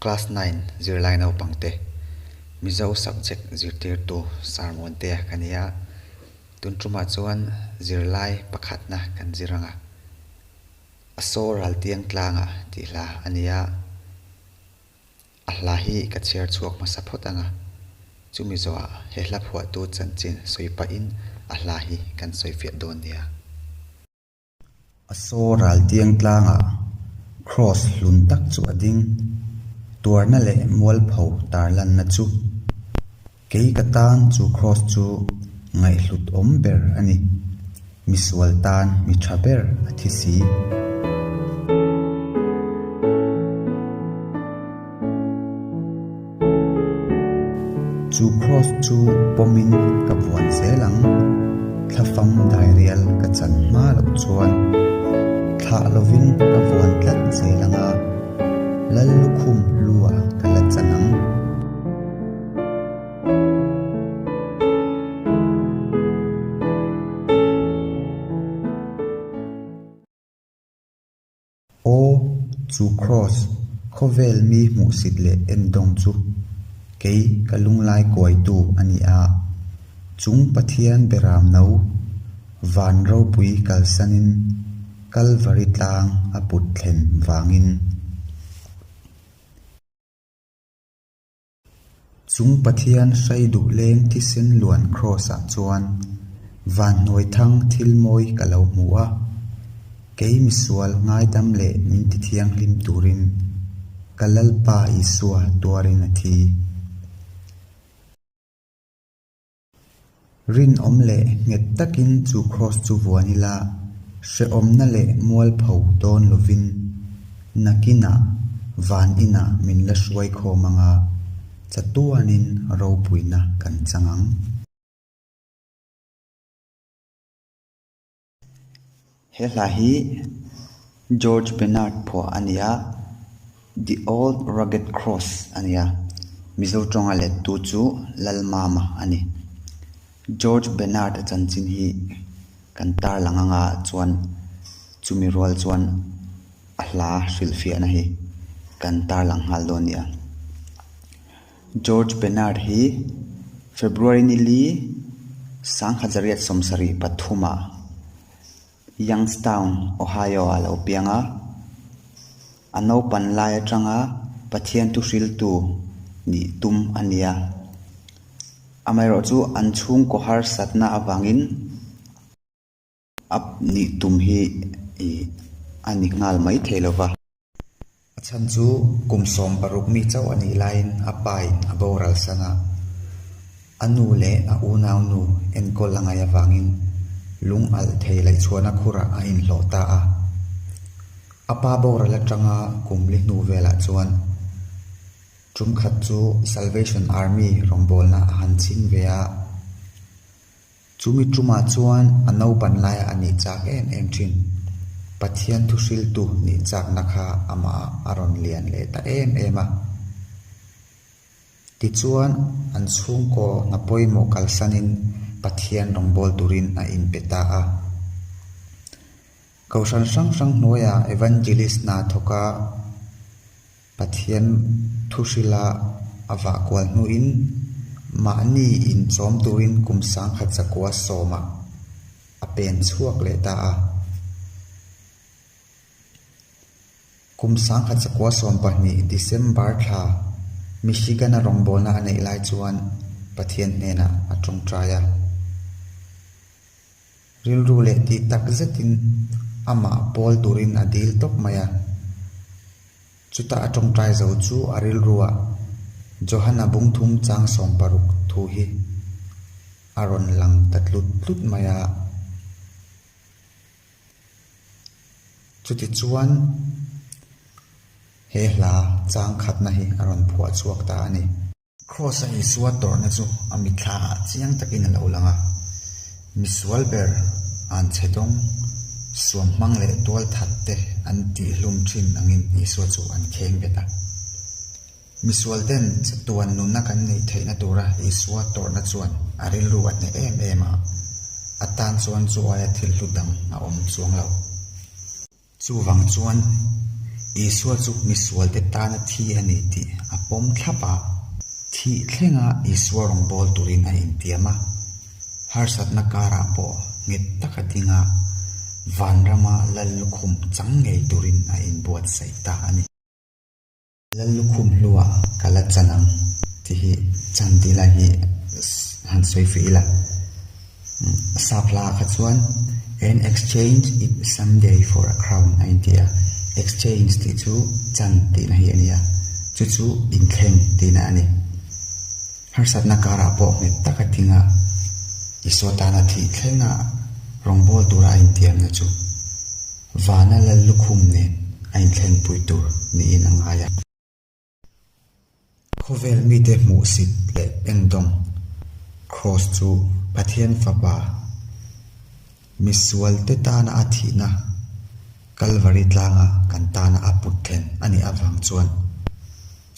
Class Nine zirlai naupangte, Mizo subject zirtirtu sarmuante ka ni a, tun ṭumah chuan zirlai pakhatna kan zir ang a, a saw raltiang tlanga tih hla a ni a, a hla hi ka chhiar chhuak hmasa phawt ang a, chu Mizoa he hla phuahtu chanchin sawi pahin a hla hi kan sawi fiah dawn nia. A saw ral tiang tlangah Kraws hlun tak chu a ding. Tuarna leh mualpho tarlanna chu. Kei ka tan chu Kraws chu ngaihhlut awm ber a ni. Misual tan mi tha ber a thi si. Chu cross chu pawmin ka vuan zel ang, thla fam dai rial ka chan hma loh chuan thlah lovin ka vuan tlat zel ang a, lal lukhum lua ka la chan ang. Aw, chu Kraws khawvel mi hmuhsit leh en dawng chu kei ka lunglai kuaitu a ni a. Chung Pathian beram no van ropui kalsanin Kalvari tlang a put thlen vangin. Chung Pathian hrai duhleng thisen luan Kraws ah chuan Vanhnuai thang thil mawi ka lo hmu a, kei misual ngaidam leh min ti thianghlim turin ka Lalpa Isua tuarin a thi. Rinawm leh nghet takin chu Kraws chu vuan ila, hrehawmna leh mualpho dawn lovin, nakinah, van inah min la hruai khawm ang a, chatuanin ropuina kan chang ang. He hla hi George Bernard phuah a ni a, The Old Rugged Cross a ni a, Mizo ṭawng-a lettu chu Lalmama a ni. George Bernard-a chanchin hi kan tarlang anga chuan chumi rual chuan a hla hrilhfiahna hi kan tarlang nghal dawn a ni a. George Bernard hi February ni li sangha zariat sawmsarih pathuma Youngstown, Ohio ah a lo piang a. A naupan lai atanga Pathian thu hriltu nih tum a ni a. Amaherawhchu an chhungkaw harsatna avangin, A nih tum hi ih a ni nghal mai thei lo va. A chhan chu kum sawm paruk mi chauh a nih laiin a pa in a boral san a. A nu leh a unau nu enkawl la ngai avangin lung alh thei laih chhuahna khurah a inhlawh ta a. A pa boral atanga kum li hnu velah chuan tumkhat chu Salvation Army rawngbawlna a han chhing ve a. Chumi tumah chuan a naupan laia a nih chak em em thin. Pathian thuhriltu nih chakna kha amah a rawn lian leh ta em em a. Tichuan, an chhungkaw hna pawimawh kalsanin Pathian rawngbawl turin a inpe ta a. Kohhran hrang hrang hnuaiah Evangelist hna thawka, Pathian thuhrila a vah kual hnuin mahni inchawm turin kum sangkhat zakua sawmah a pen chhuak leh ta a. Kum sangkhat zakua sawm pahnih December thla Michigan-a rawngbawlna a neih lai chuan Pathian hnenah a tawngtai a. Rilru leh tih tak zetin amah pawl turin a dil tawp mai a. Chuta a tawngtai zo chu a rilrua Johana bungthum chang sawm paruk thu hi a rawn lang ta tlut tlut mai a. Chutichuan he hla chang khatna hi a rawn phuah chhuak ta a ni. Kraws a Isua tawrhna chu a mitthla ah chiang takin a lo lang a, misual ber, an chhedawng, suam hmang leh tual that te an tihhlum thin angin Isua chu an kheng bet a. Misual ten chatuan nunna kan neih theihna tura Isua tawrhna chuan a rilru a hneh em em a, a tan chuan Joaia thil hlu dang a awm chuang lo. Chuvang chuan, Isua chu misualte tana thi a ni tih a pawm thlap a. Thih thlenga Isua rawngbâwl turin a intiam a. Harsatna kârah pawh nghet taka dinga vânrama lal lukhum chang ngei turin a inbuatsaih ta a ni. Lal lukhum hlua ka la chan ang tih hi chan tih lai hi han sawi feh ila. Saphlaka chuan An exchange is some day for a crown a inti a, exchange tih chu chan tihna hi a ni a, chu chu inthleng tihna a ni. Harsatna karah pawh nghet taka tinga Isua tana thih thlenga rawngbâwl tura a intiamna chu. Vana lal lukhum nen a inthlengpui tur niin a ngai a. Khawvel mite hmuhsit leh engdawng Kraws chu Pathian Fapa misualte tana a thihna Kalvari tlanga kan tana a put thlen a nih avang chuan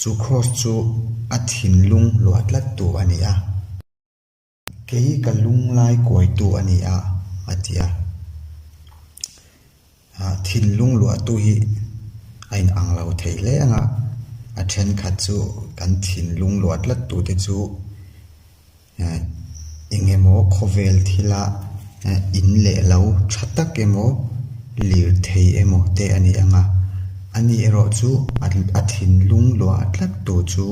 chu Kraws chu a thinlung luahtlattu a ni a. Kei hi ka lunglai kuaitu a ni a, a ti a. Thil lungluahtu hi a inang lo thei hle ang a, a thenkhat chu kan thin lunglua tlattute chu eng emaw khawvel thila in leh lo tha tak emaw lirthei emaw te a ni ang a, ani erawh chu a thin lungluah tlattu chu.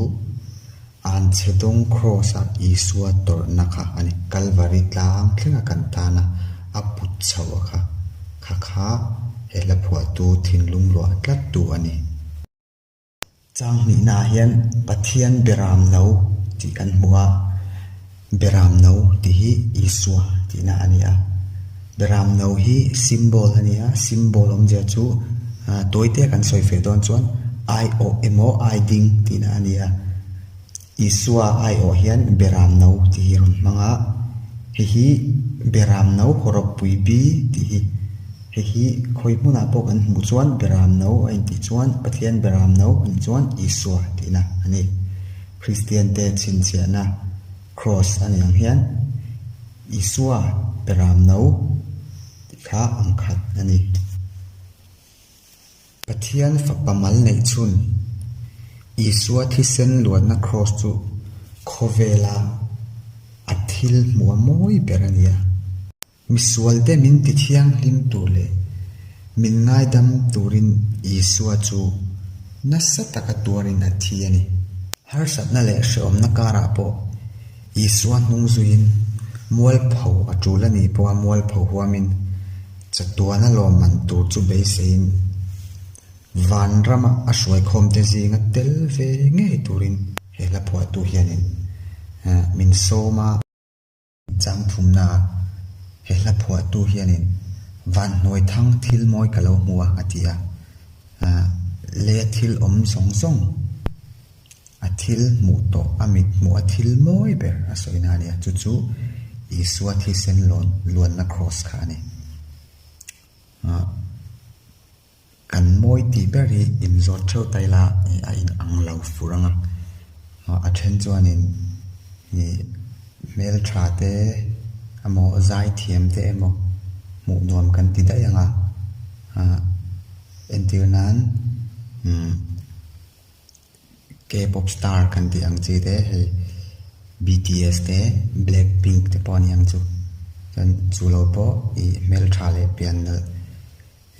An chhe dawng Kraws ah Isua tawrhna kha a ni. Kalvari tlang thleng a kan tan a, a put chho a kha. Kha kha he hla phuahtu thinlung luah tlat tu a ni. Chang hnihna ah hian Pathian biaram lo tih kan hmu a. Beram no tih hi Isua tihna a ni a. Beram no hi symbol a ni a, symbol awm zia chu tawi te kan sawi feh dawn chuan ai awh emaw ai ding tihna a ni a. Isua ai awh hian beram no tih hi a rawn hmang a, hei hi beram no haw rawk pui bi tih hi, hei hi khawi hmunah pawh kan hmuh chuan beram no a intih chuan Pathian beram no a ni chuan Isua tihna a ni. Kristiante chhinchhiahna Kraws a niang hian Isua pe ram no tih kha ang khat a ni. Pathian Fapa mal neih chhun Isua thisen luatna Kraws chu khawvela a thil hmuh a mawi ber a ni a. Misualte min ti thianghlim tur leh min ngaidam turin Isua chu nasa taka tuarin a thi a ni. Harsatna leh hrehawmna karah pawh Isua hnung zuiin mualpho a tul a nih pawha mualpho huamin chatuana lawmman tur chu beiseiin Vanrama a hruaikhawmte zinga tel ve ngei turin he hla phuahtu hianin min sawm a. Chang phumna ah he hla phuahtu hianin Vanhnuai Thang thil mawi ka lo hmu a, a ti a. Le thil awm zawng zawng a thil hmuh tawh a mit hmuh a thil mawi ber a sawina a nia, chu chu Isua thisen luanna Kraws kha a ni. Kan mawi tih ber hi inzawt theuh ta ila a inang lo fur ang a, a then chuanin hmeltha te emaw zai thiam te emaw hmuh nuam kan ti daih ang a, entir nan umm. K-pop star kan tih ang chi te hei BTS te Black Pink te pawh a ni ang chu. Chuan chu lo pawh i hmeltha leh pian nalh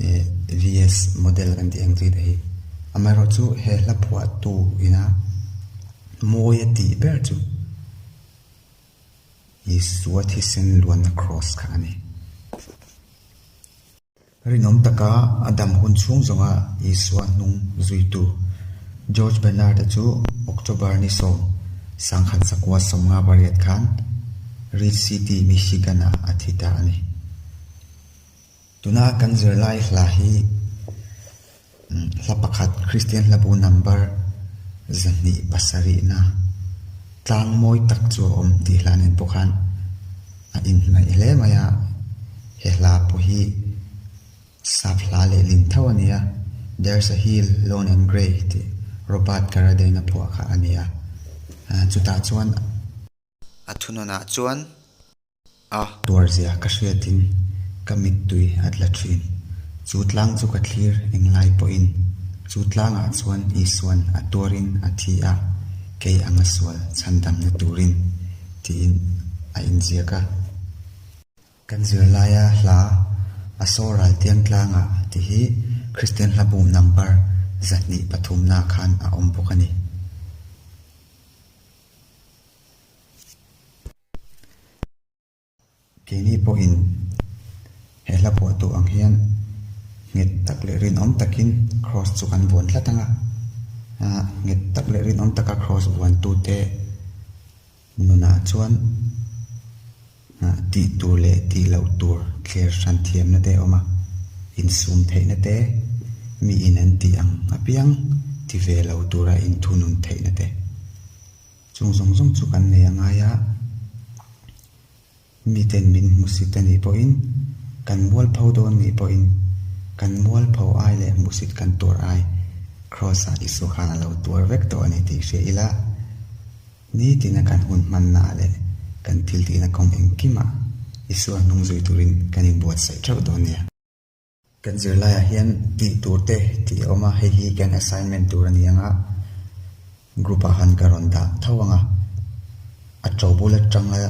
eh VS model kan tih ang chi te hi amaherawh chu he hla phuah tu ina mawi a tih ber chu Isua thisen luanna cross kha a ni. Rinawm taka a dam hun chhung zawnga Isua hnung zuitu George Bernard-a chu October ni sawm sangkhat sakua sawmnga variat khan Reed City, Michigan-a a thi ta a ni. Tuna kan zirlai hla hi. Hla pakhat, Kristian hlabu number zahnih pasarihna tlang mawi tak chu a awm tih hlan in pawh khan a inhnaih hle mai a, he hla pawh hi sap hla leh ling tho a ni a, There's a hill, lone and grey tih Robert Carradine a phuah kha a ni a, chutah chuan a thunawnah chuan a. Tuarzia ka hriatin ka mittui a tla thin. Chu tlang chu ka thlir englai pawhin chu tlangah chuan Isua'n a tuarin a thi a, kei anga sual chhan damna turin, tiin a inziak a. Kan zirlaia hla a saw ral tiang tlanga ti hi Kristian hla bum number zahnih pathumnaah khan a awm bawk a ni. Keini pawhin he hla buah duh ang hian nghet tak leh rinawm takin Kraws chu kan buan tlat ang a. Aah nghet tak leh rinawm taka Kraws buantute nunah chuan aah tih tur leh tih loh tur thler hran thiamna te a awm a. Insum theihna te, miin an tih ang apiang ti ve lo tura inthunun theihna te. Chung zawng zawng chu kan nei a ngai a, miten min hmu si te nih pawhin, kan mual pho dawn nih pawhin, kan mual pho ai leh hmu sit kan tur ai, Kraws-ah Isua khan a lo tuar vek tawh a ni tih hria ila, nitina kan hun hmanna leh kan thil tihna kawng engkimah Isua hnung zui turin kan inbuatsaih theuh dawn nia. Kan zirlaiah hian tih tur te tih a awm a, hei hi kan assignment tur a ni ang a, group ah han ka rawn dah tho ang a, a to bul atanga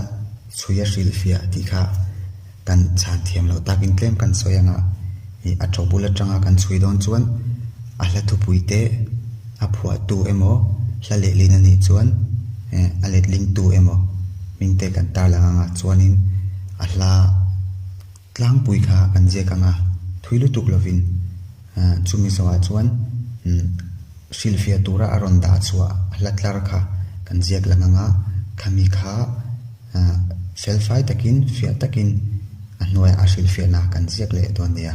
chhui a hrilh fiah tih kha kan chhan thiam loh takin tlem kan sawi ang a, ih a to bul atanga kan chhui dawn chuan a hla thupui te, a phuah tu emaw, hla lehlin a nih chuan eh a letling tu emaw hming te kan tarlang ang a, chuanin a hla. Tlangpui kha an ziak ang a, thui lutuk lovin chu Mizawah chuan hrilhfiah tura a rawn dah chhuah hla tlar kha kan ziak lang ang a, khami kha felfai takin, fiah takin a hnuaiah a hrilhfiahna kan ziak leh dawn nia.